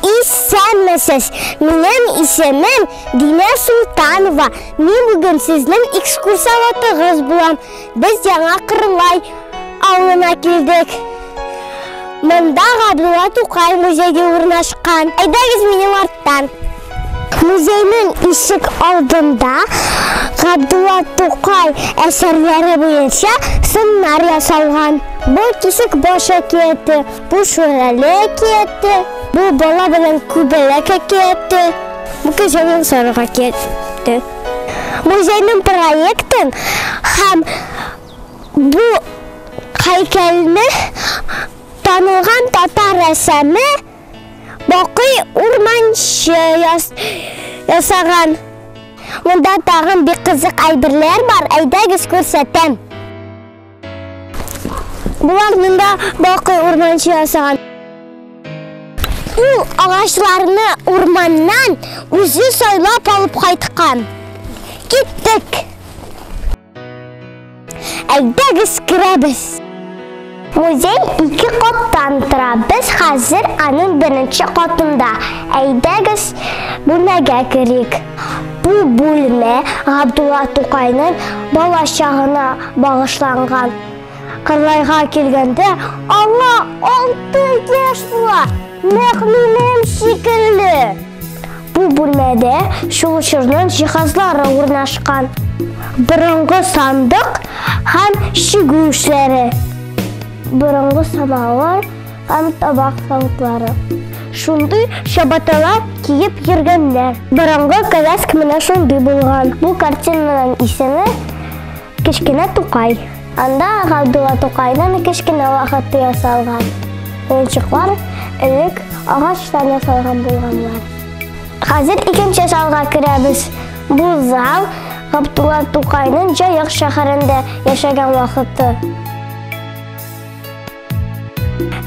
Исәнмесез! Минем исемем Динә Султанова. Мин бүген сезнең экскурсоводыгыз булам. Без Яңа Кырлай авылына килдек. Монда Габдулла Тукай музейы урнашкан. Әйдәгез минем арттан. Музейның ишек алдында Габдулла Тукай әсәрләре буенча сыннар ясалган. Бу кисек баш әкияте, бу шүрәле әкияте, бу бала белән күбәләк әкияте, бу кешенең сарык әкияте. Музейның проектын һәм бу һәйкәлне танылган татар рәссамы Бакый урманчы яс, ясаган. Монда тагын бик кызык әйберләр бар, әйдәгез күрсәтәм. Булар монда бакый урманчы ясаган. Ул агачларны урманнан үзе сайлап алып кайткан. Киттек! Әйдәгез керәбез. Музей ике каттан тора. Без хәзер аның беренче катында. Әйдәгез бүлмәгә керик. Бу бүлмә Габдулла Тукайның бала чагына багышланган. Кырлайга килгәндә аңа алты яшь була. Нәкъ минем шикелле. Бу бүлмәдә чулышырның җиһазлары урнашкан. Борынгы сандык һәм чигү эшләре. Борынгы самавыр һәм табак савытлары. Шундый чабаталар киеп йөргәннәр. Борынгы коляска менә шундый булган. Бу картинаның исеме Кечкенә Тукай. Анда Габдулла Тукайның кечкенә вакыты ясалган. Уенчыклар элек агачтан ясалган булганнар. Хәзер икенче залга керәбез. Бу зал Габдулла Тукайның Җаек шәһәрендә яшәгән вакыты.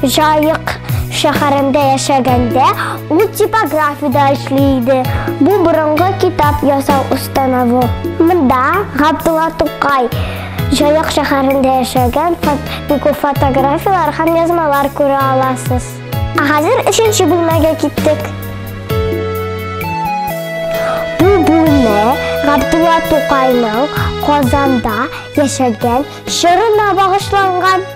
Җаек шәһәрендә яшәгәндә ул типографиядә эшли иде. Бу борынгы китап ясау установы. Монда Габдулла Тукай Җаек шәһәрендә яшәгән Фатбику фотографияләр һәм язмалар күрә аласыз. Ә хәзер өченче бүлмәгә киттек. Бу бүлмә Габдулла Тукайның Казанда яшәгән чорына багышланган.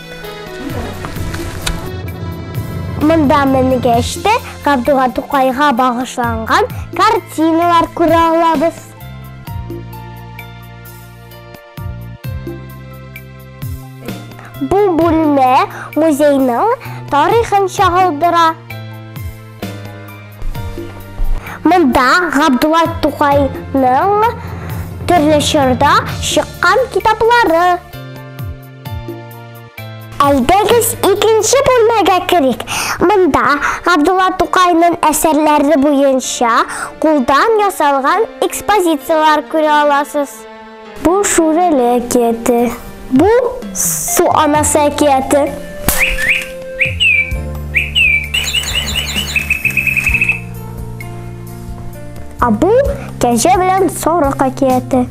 Монда менгәч тә Габдулла Тукайга багышланган картиналар күрә алабыз. Бу бүлмә музейның тарихын чагылдыра. Монда Габдулла Тукайның төрле чорда чыккан китаплары Әйдәгез икенче бүлмәгә керик. Монда Габдулла Тукайның әсәрләре буенча кулдан ясалган экспозицияләр күрә аласыз. Бу Шүрәле әкияте. Бу Су анасы әкияте. А бу Кәҗә белән сарык әкияте.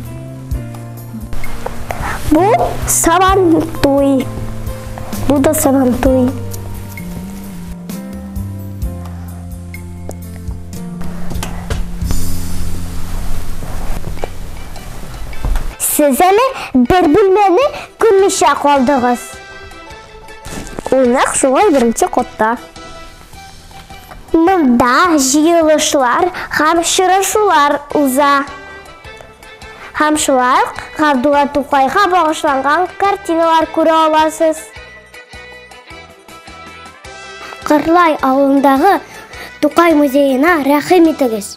Бу сабан туй. Бу да сабан туй. Сез әле бер бүлмәне күрмичә калдыгыз. Ул нәкъ шулай беренче катта. Монда җыелышлар һәм очрашулар уза. Һәм шулай ук Габдулла Тукайга багышланган картиналар күрә аласыз. Кырлай авылындагы Тукай музеена рәхим итегез.